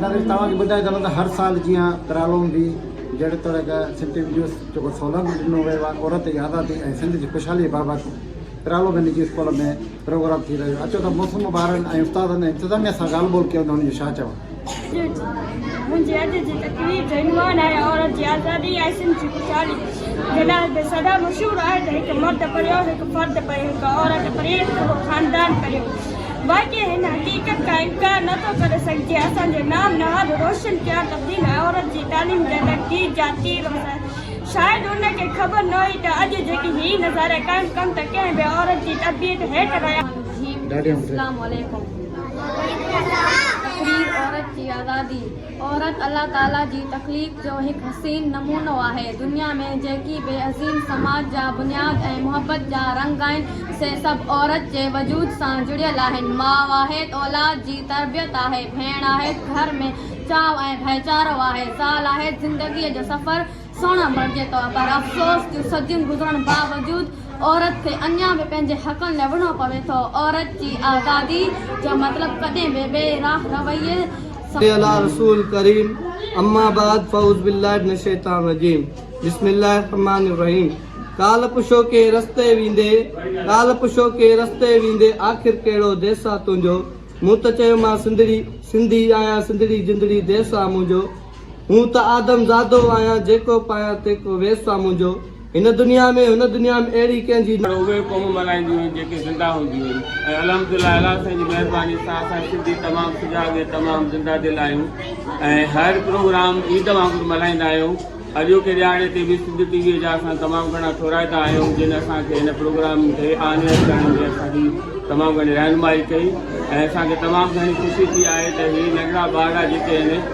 ناريل توهان کي ٻڌائي سگهون ته هر سال جيان ترالو ۾ به جهڙي طرح کان سنٽي ويڊيوز جو ڪو سهولت ڏنو ويو آهي عورت جي آزادي ۽ سنڌ جي خوشحالي بابت ترالو ۾ نجي اسڪول ۾ پروگرام ٿي رهيو اچو ته موسوم ٻارن ۽ استادن ۽ انتظاميه سان ڳالهه ٻولهه ڪيون ته انهن جو ڇا چوڻ منهنجي اڄ جي تقرير جو عنوان آهي عورت جي آزادي ۽ سنڌ جي خوشحالي جناح به سدا مشهور آهي ته هڪ مرد پريو هڪ فرد پريو هڪ عورت پرينء ته اهو خاندان پريو باقي هن حقيقت کان انڪار نه ٿو ڪري سگهجي اسان جي نام نهاد روشن ڪيا تبديل ۽ عورت جي تعليم جا ته تير جا تير هوندا شايد ان کي خبر نه هئي ته اڄ جيڪي هي نظارا قائم ڪن ته ڪنهن به عورت جي تربيت هيٺ رهيا هوندا. اسلام عليڪم تقرير عورت جي آزادي. عورت الله تعاليٰ جي تخليق جو هڪ حسين نمونو آهي. دنيا ۾ جيڪي به عظيم سماج جا بنياد ۽ محبت جا رنگ آهن، سي سڀ عورت جي وجود سان جڙيل آهن. ماء آهي ته اولاد جي تربيت آهي، ڀيڻ آهي ته گهر ۾ چاء ۽ ڀائيچارو آهي، زال آهي ته زندگيء جو سفر، سهڻا بڻجي ٿو پر افسوس جو صديون گذرڻ باوجود عورت کي اڃا به پنهنجي حقن لاء وڙهڻو پوي ٿو عورت جي آزادي جو مطلب ڪڏهن به بي راه رويي صلي علی رسول ڪريم اما بعد فعوذ بالله من الشيطان الرجيم بسم الله الرحمن الرحيم ڪالهه پڇو ڪي رستي ويندي ڪالهه پڇو ڪي رستي ويندي آخر ڪهڙو ديس آ تنهنجو مون ته چيومانس سنڌڙي سنڌي آهيان سنڌڙي جندڙي ديس آ منهنجو مون ته آدم زادو آهيان جيڪو پايان تيڪو ويس آ منهنجو هن دنيا ۾ هن دنيا ۾ اهڙي ڪنهن جي نه. پر اهي قومون ملهائينديون آهن جيڪي زنده هونديون آهن ۽ الحمدلله الله سائين جي مهرباني سان اسان سنڌي تمام سجاڳ ۽ تمام زنده دل آهيون ۽ هر پروگرام عيد وانگر ملهائيندا آهيون اڄوڪي ڏهاڙي تي به سنڌ ٽي وي جا اسان تمام گهڻا ٿورائتا آهيون جن اسان کي هن پروگرام کي آنير ڪرڻ ۾ اسان جي تمام گهڻي رهنمائي ڪئي ۽ اسان کي تمام گهڻي خوشي ٿي آهي ته هي ننڍڙا ٻارڙا جيڪي آهن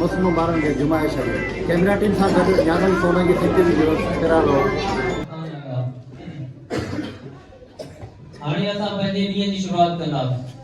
مس مبارڪ جي جمعي شريف ڪيمرا ٽيم سان گڏ نيازم سولنگي ٿيٽر جي ويب ڪرڻ هو. هاڻي اسان پنهنجي ڏينهن جي شروعات ڪنداسين.